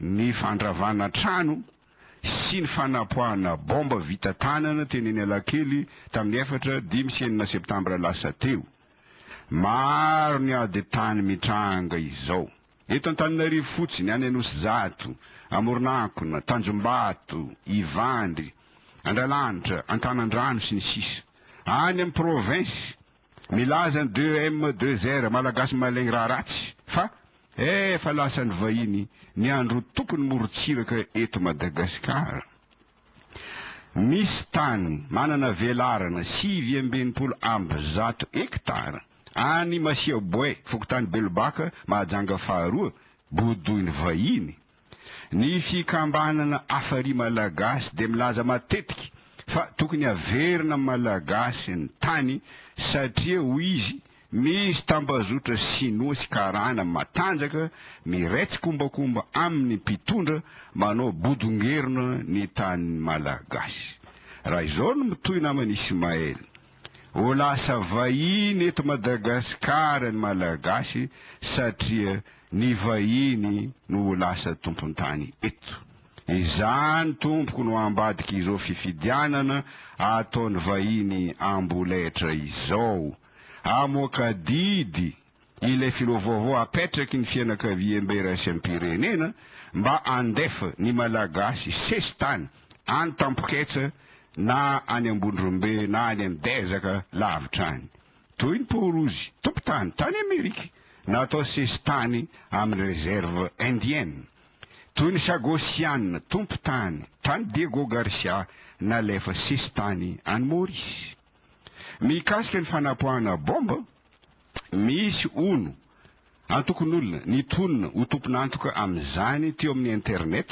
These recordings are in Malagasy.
ny fandravana trano sy ny fanapoahana baomba vita tanana teny Analakely tamin'ny efatra, dimy sy enina septambra lasa teo. Maro ny ady tany mitranga izao. Eto Antananarivo fotsiny, any Anosizato, Amoronankona, Tanjombato, Ivandry, Andralanitra, Antanandrano, sy ny sisa Any amin'ny province Milaza ny deux M deux R, Malagasy mahalegny raha ratsy, fa efa lasan'ny vahiny ny androtoky ny morontsiraka eto Madagasikara. Misy tany manana velarana sivy amby enimpolo amby zato hekitara any Masiaboay, fokontany Belobaka, Mahajanga faharoa, bodoin'ny vahiny. Ny fikambanana Afari Malagasy dia milaza matetika fa tokony haverina amin'ny Malagasy ny tany satria hoy izy misy tambazotra sinoa sy karana matanjaka miretsikombakomba amin'ny mpitondra manao bodongerona ny tanin'ny Malagasy. Raha izao no mitohy naman'i Ismaël. Ho lasa vahiny eto Madagasikara ny Malagasy satria ny vahiny no ho lasa tompon-tany eto. Izany tompoko no ambadika izao fifidianana ataon'ny vahiny amboletra izao. Amoaka didy ilay filoha vaovao apetraky ny fianakaviambe iraisam-pirenena mba handefa ny Malagasy sesitany any Tampoketsa na any Ambondrombe na any Amidezaka lavitra any toy ny Paorozy tompotany tany Amerika natao sesitany amin'ny Reserve Indienne toy ny Sagosiana tompotany tany Diego Garcia nalefa sesitany any Maurice. Mikasika ny fanapoahana bomba, misy, hono, antokon'olona nitonona ho tompon'antoka amin'izany teo amin'ny internet,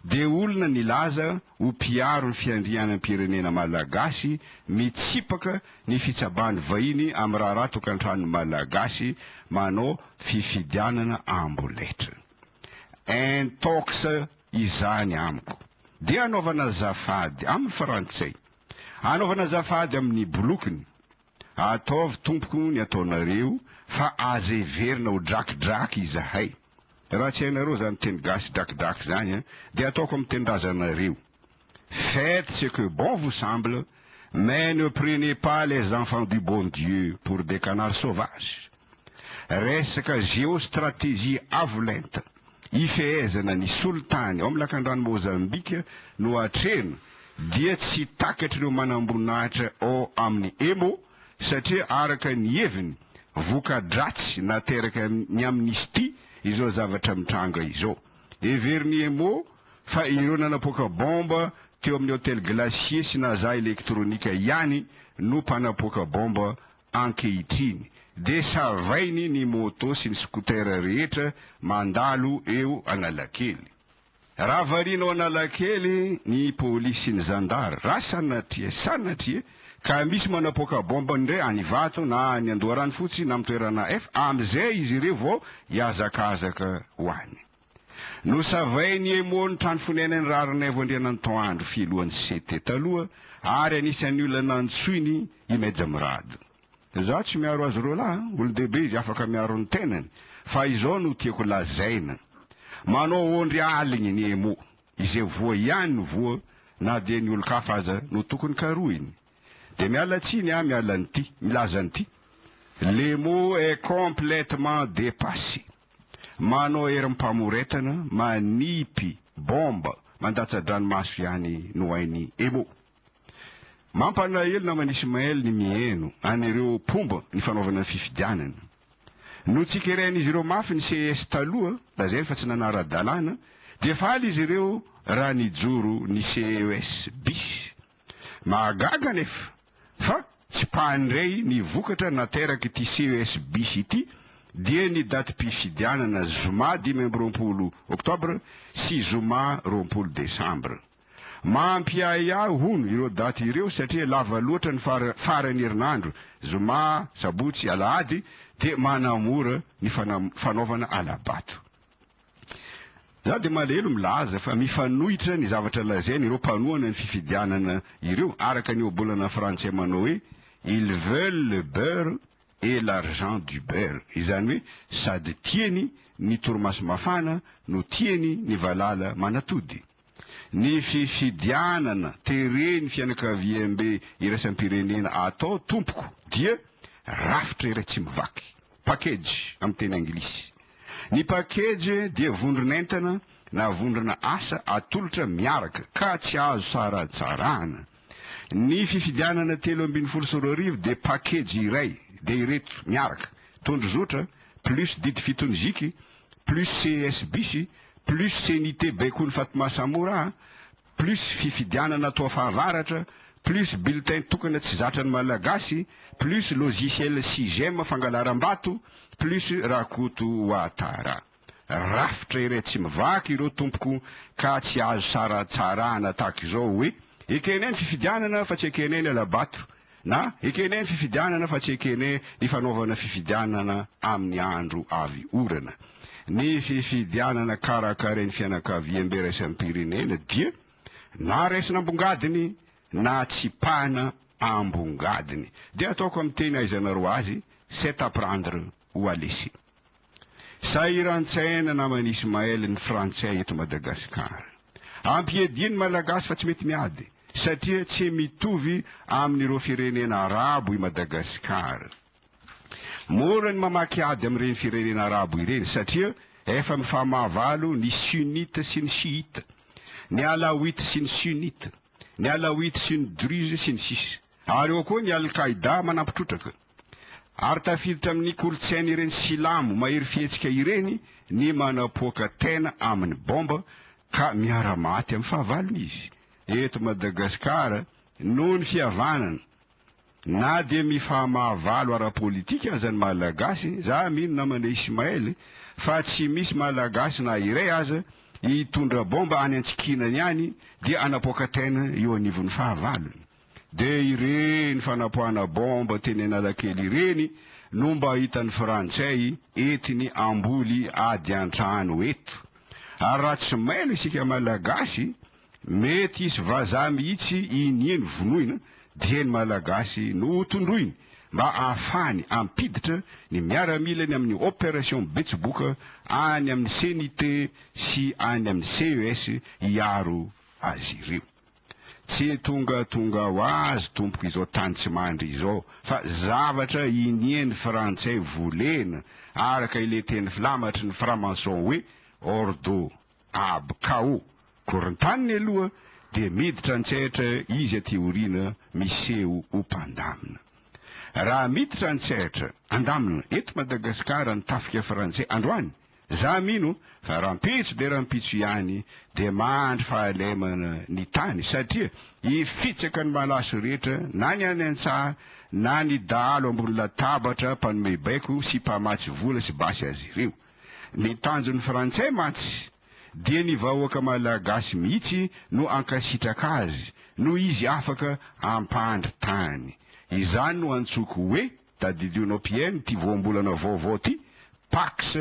dia olona nilaza ho mpiaro ny fiandrianam-pirenena malagasy mitsipaka ny fitsaban'ny vahiny amin'ny raharaha tokantranon'ny Malagasy manao fifidianana amboletra. Intox izany amiko. Dia anaovana azafady amin'ny frantsay. Anaovana azafady amin'ny bolokiny. Ataovy tompoko ny ataonareo fa aza heverina ho drakidraky izahay. Raha tsy hainareo izany teny gasy drakidraky izany an, dia ataoko amin'ny tenindrazanareo. Faites ce que bon vous semble mais ne prenez pas les enfants du bon Dieu pour des canards sauvages. Resaka géostratégie avo lenta, hifehezana ny solitany ao amin'ny lakandrano Mozambika no atrehina dia tsy takatr'ireo manamboninahitra ao amin'ny Emo satria araka ny heviny, voka-dratsy nateraka ny Amnesty izao zavatra mitranga izao. Heverin'ny Emo fa ireo nanapoaka baomba teo amin'ny Hotel Glacier sy Naza Electronica ihany no mpanapoaka baomba Ankehitriny dia savainy ny moto sy ny scooter rehetra mandalo eo Analakely. Raha variana ao Analakely ny polisy sy ny zandary, raha sanatria, sanatria, ka misy manapoaka bomba indray any Ivato na any Andoharanofotsy na amin'ny toerana hafa, amin'izay izy ireo vao hihazakazaka ho any. Nosavain'i Emo ny trano fonenan'i Raharinaivo Andriananto Andry filohan'ny CT taloha ary anisan'ny olona nantsoiny i Meja Mirado. Izaho tsy miaro azy roalahy an! Olon-dehibe izy afaka miaro ny tenany fa izao no tiako lazaina, manao aondry aligny ny Emo, izay voa ihany no voa na dia ny olon-kafa aza no tokony karohiny. Dia miala tsiny aho miala an'ity, milaza an'ity, Lemo est complètement dépassé. Manao herim-pamoretana, manipy bomba, mandatsa-dranomaso ihany no hain'i Emo. Mampalahelo naman'i Ismaël ny miheno an'ireo mpomba ny fanaovana ny fifidianana. Notsikerain'izy ireo mafy ny ces taloha, lazainy fa tsy nanara-dalàna, dia faly izy ireo raha nijoro ny ces bis Mahagaga anefa fa tsy mpandray ny vokatra naterak'ity ces bis ity dia ny datim-pifidianana zoma dimy amby roapolo oktobra sy zoma roapolo desambra. Mampiahiahy hono ireo daty ireo satria lava loatra ny faran'ny herinandro, zoma, sabotsy, alahady dia manamora ny fanaovana hala-bato. Izaho dia malahelo milaza fa mifanohitra ny zavatra lazain' ireo mpanohana ny fifidianana ireo araka ny ohabolana frantsay manao hoe Ils veulent le beurre et l'argent du beurre, izany hoe sady tiany ny torimaso mafana no tiany ny valala manatody. Ny fifidianana teren'ny fianakaviambe iraisam-pirenena atao tompoko dia rafitra iray tsy mivaky, package amin'ny teny anglisy. Ny package dia vondron'entana na vondrona asa atolotra miaraka ka tsy azo saratsarahana. Ny fifidianana telo ambin'ny folo sy roa arivo dia pakejy iray, dia ireto miaraka, tondro zotra, plus didy fitony ziky, plus ces bisy, plus CENI-T baikony Fatma Samora a, plus fifidianana atao fahavaratra, plus bulletin tokana tsy zatran'ny Malagasy, plus logiciel Sigem fangalaram-bato, plus Rakoto Ouattara. rafitra iray tsy mivaky ireo tompoko ka tsy azo saratsarahana tahaka izao hoe, ekene ny fifidianana fa tsy ekene ny hala-bato na ekene ny fifidianana fa tsy ekene ny fanaovana fifidianana amin'ny andro avy orana. Ny fifidianana karakarain'ny fianakaviambe iraisam-pirenena dia na raisina ambongadiny na tsipahina ambongadiny. Dia ataoko amin'ny teny ahaizanareo azy, c'est à prendre ho alesi. Sahiran-tsaina naman'i Ismaël ny frantsay eto Madagasikara. Ampiadian'ny malagasy fa tsy mety miady satria tsy mitovy amin'ireo firenena arabo i Madagasikara. Mora ny mamaky ady amin'ireny firenena arabo ireny satria efa mifamahavalo ny sunnite sy ny chiite, ny alawite sy ny sunnite, ny alawite sy ny druze sy ny sisa. Ary ao koa ny Al-Qaida manampitrotraka. Ary tafiditra amin'ny kolontsain'ireny Silamo mahery fihetsika ireny ny manapoaka tena amin'ny baomba ka miara-maty amin'ny fahavalony izy. Eto Madagasikara, noho ny fihavanana, na dia mifaha-mahavalo ara-politika aza ny Malagasy, za mino namana Ismaël fa tsy misy Malagasy na iray aza hitondra baomba any antsikinany any dia hanapoaka tena eo anivon'ny fahavalony. Dia ireny fanapoahana bomba teny Analakely ireny no mba hitan'ny frantsay entiny hamboly ady an-trano eto. Ary raha tsy mailo isika malagasy, mety hisy vazaha mihitsy iniany vonoina dia ny malagasy no ho tondroiny mba ahafahany hampiditra ny miaramilany amin'ny opération betsiboka any amin'ny CNIT sy any amin'ny CES hiaro azy ireo. Tsy tongatonga ho azy tompoko izao tany tsy mandry izao fa zavatra iniany frantsay volena araka ilay teny filamatry ny framason hoe ordo ab cao korontaniny aloha dia miditra antsaitra izy aty aoriana miseho ho mpandamina raha miditra antsaitra andamina eto madagasikara ny tafika frantsay androany Za mino fa rampitso dia rampitso ihany dia mahandry fahalemana ny tany satria hifitsaka ny malaso rehetra na ny any antsaha na ny dahalo ambony latabatra mpanome baiko sy mpamatsy vola sy basy azy ireo. Ny tanjon'ny frantsay mantsy dia ny vahoaka malagasy mihitsy no ankasitraka azy noho izy afaka ampahandry tany. Izany no antsoiko hoe. Tadidio anao Pm ity voambolana vaovao ty Pax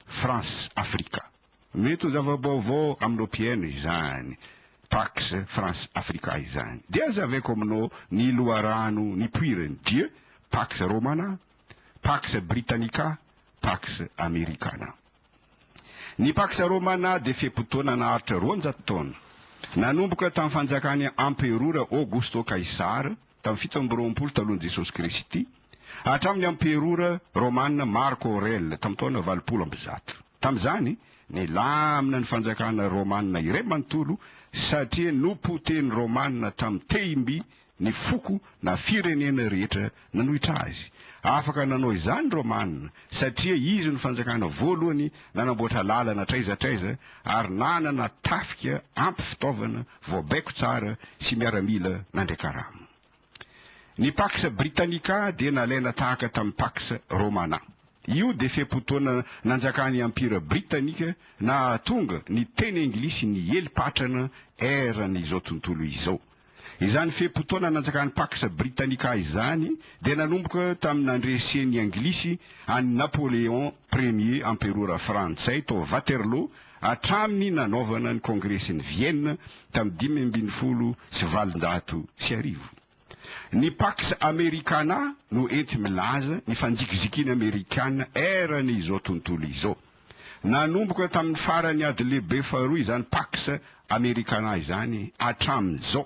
France Africa. Mety ho zava-baovao aminao Pm izany Pax France Africa izany. Dia zavaiko aminao ny loharano nipoirany dia Pax Romana, Pax Britannica, Pax Americana. Ny Pax Romana dia fe-potoana naharitra roanjato taona. Nanomboka tamin'ny fanjakan'i Amperora Augusto Kaisara Tamin'ny fito amby roapolo talohan'i Jesosy Kristy, hatramin'ny amperora romana Marco Aurèle tamin'ny taona valopolo amby zato. Tamin'izany, nilamina ny fanjakana romana iray manontolo satria nopotehin'ny Romana tamin'ny tehim-by ny foko na firenena rehetra nanohitra azy. Afaka nanao izany ny Romana satria izy no fanjakana voalohany nanamboatra lalana hatraiza hatraiza ary nanana tafika ampy fitaovana vao baiko tsara sy miaramila nandray karama. Ny Pax Britannica dia nalaina tahaka tamin'ny Pax Romana. Io dia fe-potoana nanjakan'ny Empira Britanika nahatonga ny teny anglisy niely patrana eran' izao tontolo izao. Izany fe-potoana nanjakan'ny Pax Britannica izany dia nanomboka tamin'ny nandresen'ny Anglisy an'i Napoléon Ier Amperora Frantsay tao Waterloo hatramin'ny nanaovana ny Kongresin'i Vienne tamin'ny dimy ambin'ny folo sy valonjato sy arivo. Ny Pax Americana no enti-milaza ny fanjikizikiana Amerikana eran' izao tontolo izao. Nanomboka tamin'ny faran'ny Ady Lehibe Faharoa izany Pax Americana izany hatramin'izao.